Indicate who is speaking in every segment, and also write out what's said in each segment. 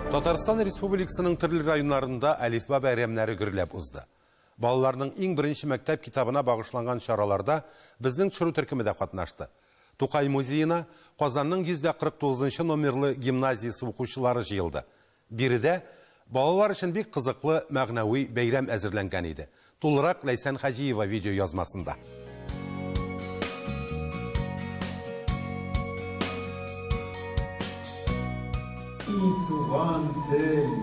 Speaker 1: Татарстан Республикасының төрле районнарында әлифба бәйрәмнәре гөрләп узды. Балаларның иң беренче мәктәп китабына багышланган чараларда безнең төшерү төркеме дә катнашты. Тукай музеена Казанның 149 нчы номерлы гимназиясе укучылары җыелды. Биредә балалар өчен бик кызыклы мәгънәви бәйрәм әзерләнгән иде. Тулырак Ләйсән Хаҗиева видеоязмасында. И туган тел,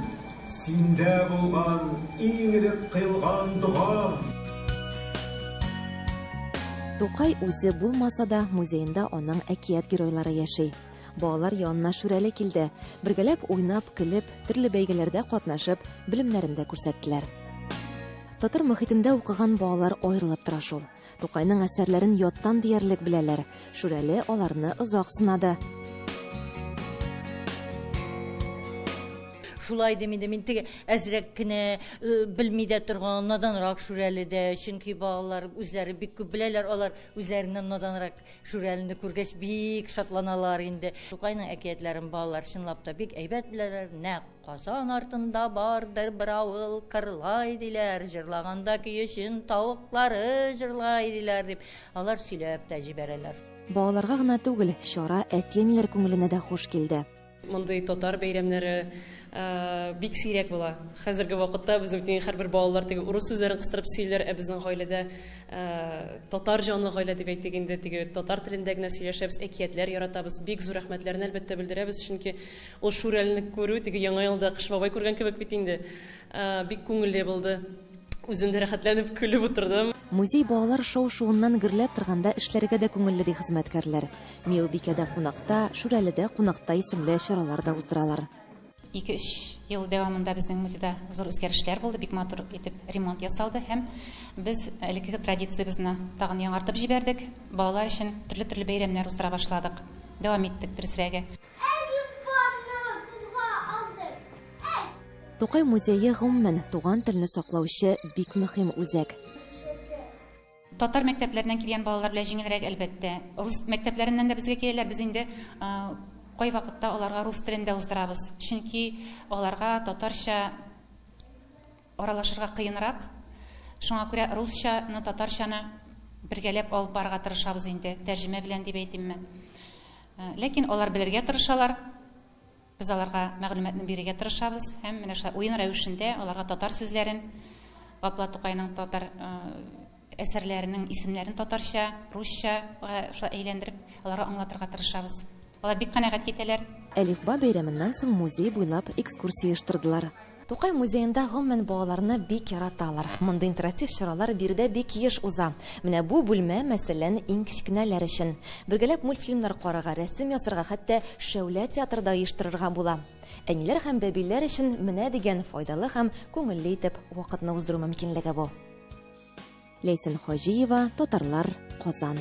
Speaker 1: синдә булган иң элек кыйлган догам. Тукай үзе булмаса да, музеенда аның әкият геройлары яши. Балалар янына Шүрәле килде. Бергәләп уйнап, көлеп, төрле бәйгеләрдә катнашып, белемнәрен дә күрсәттеләр. Татар мөхитендә укыган балалар аерылып тора шул. Тукайның әсәрләрен яттан диярлек беләләр. Шүрәле аларны озак сынады. шулай дим инде мин теге әзрәк кенә э, белми дә торган наданрак шүрәле дә чөнки балалар үзләре бик күп беләләр алар үзләреннән наданрак Шүрәлене күргәч, бик шатланалар инде. Тукайның әкиятләрен балалар чынлап та бик әйбәт беләләр. Нәкъ Казан артында бардыр бер авыл Кырлай диләр, җырлаганда көечен тавыклары җырлай диләр, дип, алар сөйләп тә җибәрәләр. Балаларга гына түгел, чара әти-әниләр күңеленә дә хуш килде. Мондый татар бәйрәмнәре бик сирәк була. Хәзерге вакытта безнең һәрбер балалар теге урыс сүзләрен кыстырып сөйлиләр, ә безнең гаиләдә татар җанлы гаилә дип әйтик инде, теге татар телендә генә сөйләшәбез, әкиятләр яратабыз. Бик зур рәхмәтләрне әлбәттә белдерәбез, чөнки ул Шүрәлне күрү теге Яңа елда Кыш бабай күргән кебек бит инде. Бик күңелле булды. Үзем дә рәхәтләнеп көлеп утырдым. Музей балалар шау-шуыннан гөрләп торганда эшләргә дә күңелле, ди хезмәткәрләр. Миубикәдә кунакта, Шүрәледә кунакта исемле чаралар да уздыралар. Ике-өч ел дәвамында безнең музейда зур үзгәрешләр булды, бик матур итеп ремонт ясалды һәм без элеккеге традициябезне тагын яңартып җибәрдек. Балалар өчен төрле-төрле бәйрәмнәр уздыра башладык, дәвам иттек, дөресрәге. Тукай музее, гомумән, туган телне саклаучы бик мөһим үзәк. Татар мәктәпләреннән килгән балалар белән җиңелрәк, әлбәттә. Рус мәктәпләреннән дә безгә киләләр, без инде кайвакытта аларга рус телен дә уздырабыз. Чөнки аларга татарча аралашырга кыенрак. Шуңа күрә русчаны, татарчаны бергәләп алып барырга тырышабыз инде, тәрҗемә белән дип әйтимме. Ләкин алар белергә тырышалар. Без аларга мәгълүматны бирергә тырышабыз һәм менә шулай уен рәвешендә аларга татар сүзләрен, Гапла Тукайның татар әсәрләренең исемнәрен татарча, русча шулай әйләндереп, аларга аңлатырга тырышабыз. Алар бик канәгать китәләр. Әлифба бәйрәменнән соң музей буйлап экскурсия оештырдылар. Тукай музеенда гомумән балаларны бик яраталар. Мондый интератив чаралар биредә бик еш уза. Менә бу бүлмә, мәсәлән, иң кечкенәләр өчен. Бергәләп мультфильмнар карарга, рәсем ясарга, хәтта шәүлә театры да оештырырга була. Әниләр һәм бәбиләр өчен менә дигән файдалы һәм күңелле итеп вакытны уздыру мөмкинлеге бу. Ләйсән Хаҗиева, Татарлар, Казан.